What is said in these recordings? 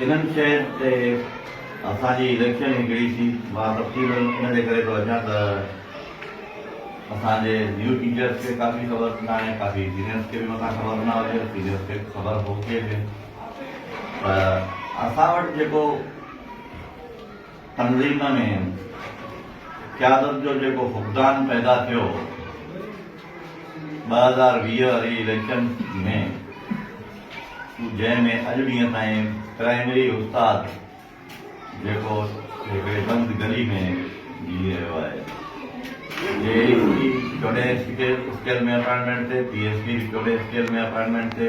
انهن شين تي اسان جي اليڪشن هڪڙي ٿي مان تفصيل ان جي ڪري ٿو اچان ته اسان جي نيو ٽيچرس کي ڪافي خبر ناهي ڪافي سينيئرس کي به متان خبر نه هجي سينيئرس کي خبر هو ڪي به ته اسان وٽ جيڪو تنظيم ۾ قيادت جو جيڪو فقدان پيدا ٿيو هو ٻه هزار ويهه واري اليڪشن ۾ جنهن ۾ اڄ ڏينهن تائين پرائمري استاد جيڪو هڪڙي بند گلي ۾ جيئي رهيو آهي جي اي سي چوڏهن اسڪيل ۾ اپائنٽمينٽ ٿي پي ايس ڊي چوڏهن اسڪيل ۾ اپائنٽمينٽ ٿي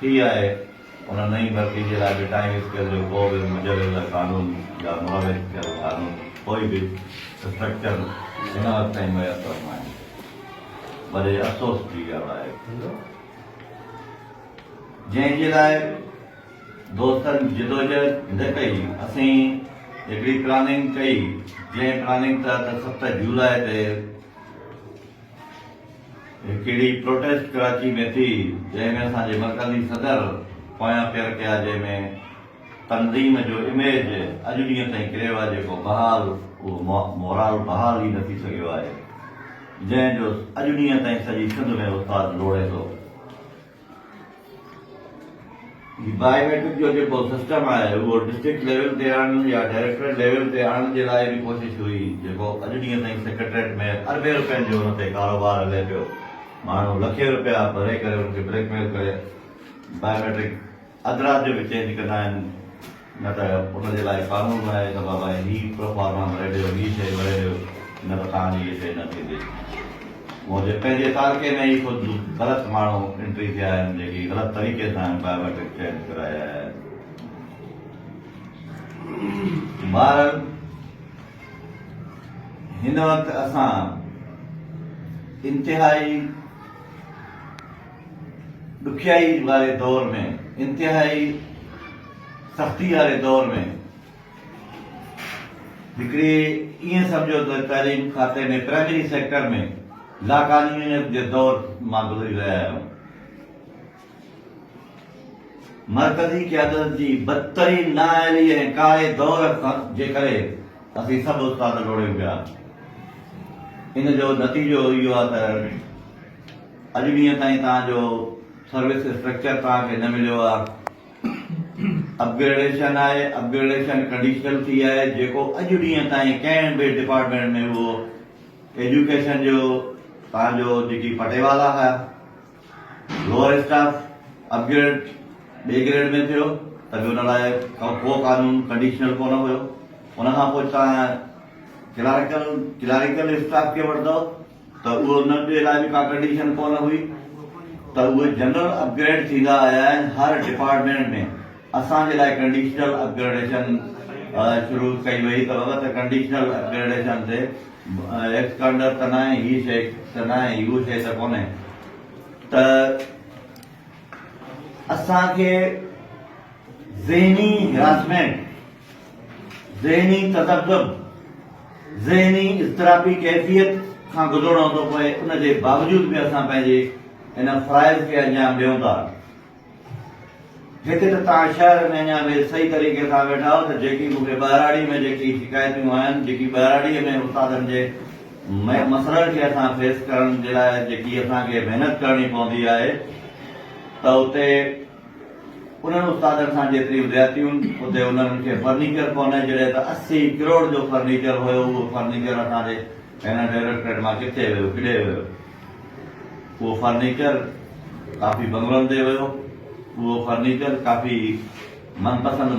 ٿي آهي، ان نئين ڀرتي جي لاء به ٽائين اسڪيل جو ڪو به مجوزه قانون يا مروج ٿيل قانون ڪوئي به اسٽرڪچر هن وقت تائين ميسر ناهي. وڏي افسوس جي ڳالهه آهي. جنهن جي لاء دوستن جدوجهد نه ڪئي. اسين هڪڙي پلاننگ ڪئي، جنهن پلاننگ تحت ست جولاء تي. هڪ اهڙي پروٽيسٽ ڪراچي ۾ ٿي جنهن ۾ اسان جي مرڪزي صدر پويان پير ڪيا جنهن ۾ تنظيم جو اميج اڄ ڏينهن تائين ڪري ويا جيڪو بحال اهو مورال بحال ئي نه ٿي سگهيو آهي جنهن جو اڄ ڏينهن تائين سڄي سنڌ ۾ استاد لوڙي ٿو. هي بائي ميٽرڪ جو جيڪو سسٽم آهي اهو ڊسٽرڪٽ ليول تي آڻڻ يا ڊائريڪٽريٽ ليول تي آڻڻ جي لاء به ڪوشش هئي جيڪو اڄ ڏينهن تائين سيڪريٽريٽ ۾ اربين روپين جو ان تي ڪاروبار هلي پيو ماڻهو لکين روپيا ڀري ڪري ان کي بليڪ ميل ڪري بائي ميٽرڪ اڌ رات جو به چينج ڪندا آهن نه ته ان جي لاء قانون بڻائي ته بابا هي پروفارما ڀري ڏيو هي شيء ڀري ڏيو نه ته توهان جي هي شيء نه ٿيندي منهنجي پنهنجي تعلقي ۾ ئي خود غلط ماڻهو انٽري ٿيا آهن جيڪي غلط طريقي سان بائيوميٽرڪ چينج ڪرائي آيا آهن بهرحال هن وقت اسان انتهائي ڏکيائي واري دور ۾ انتهائي سختي واري دور ۾ هڪڙي ائين سمجهو ته تعليم کاتي ۾ پرائمري سيڪٽر ۾ لاقانونيت جي دور مان گذري رهيا آهيون مرڪزي قيادت جي بدترين نااهلي ۽ ڪاري دور جي ڪري اسين سڀ استاد لوڙيون پيا ان جو نتيجو اهو آهي ته اڄ ڏينهن تائين توهان جو سروس اسٽرڪچر توهان کي نه مليو آ اپ گريڊيشن آهي اپ گريڊيشن ڪنڊيشل ٿي آهي جيڪو اڄ ڏينهن تائين ڪنهن به ڊپارٽمينٽ ۾ اهو ايجوڪيشن جو توهان جو جيڪي پٽيوالا هيا لوور اسٽاف اپ گريڊ ٻي گريڊ ۾ ٿيو ته به ان لاء ڪو قانون ڪنڊيشنل ڪونه هيو ان کان پوء توهان ڪلارڪل ڪلاريڪل اسٽاف کي وٺندو ته اهو ان ٻئي لاء به ڪا ڪنڊيشن ڪونه هئي ته اهي جنرل اپ گريڊ ٿيندا آيا آهن هر ڊپارٽمينٽ ۾ اسان جي لاء ڪنڊيشنل اپ گريڊيشن شروع ڪئي وئي ته بابا ته ڪنڊيشنل اپ گريڊيشن تي ايڪسڪانڊر ته ناهي هي شي ته ناهي هو شي ته ڪونهي ته اسان کي ذهني هراسمينٽ ذهني تذبذب، ذهني اضطرابي ڪيفيت، کان گذرڻو ٿو پوي ان جي باوجود به اسان پنهنجي ان فرائض کي انجام ڏيون ٿا. هڪ ته توهان شهر ۾ اڃا به صحيح طريقي سان ويٺا آهيو ته جيڪي مون کي ٻهراڙي ۾ جيڪي شڪايتون آهن، جيڪي ٻهراڙي ۾ استادن جي مسئلن کي اسان فيس ڪرڻ جي لاء جيڪي اسان کي محنت ڪرڻي پوندي آهي ته اتي انهن استادن سان جيتريون زيادتيون اتي انهن کي فرنيچر ڪونهي جڏهن ته اسي ڪروڙ جو فرنيچر هيو اهو فرنيچر اسان جي هن ڊائريڪٽريٽ مان ڪٿي ويو ڪيڏي ويو اهو فرنيچر ڪافي بنگلن تي ويو اهو فرنيچر ڪافي من پسند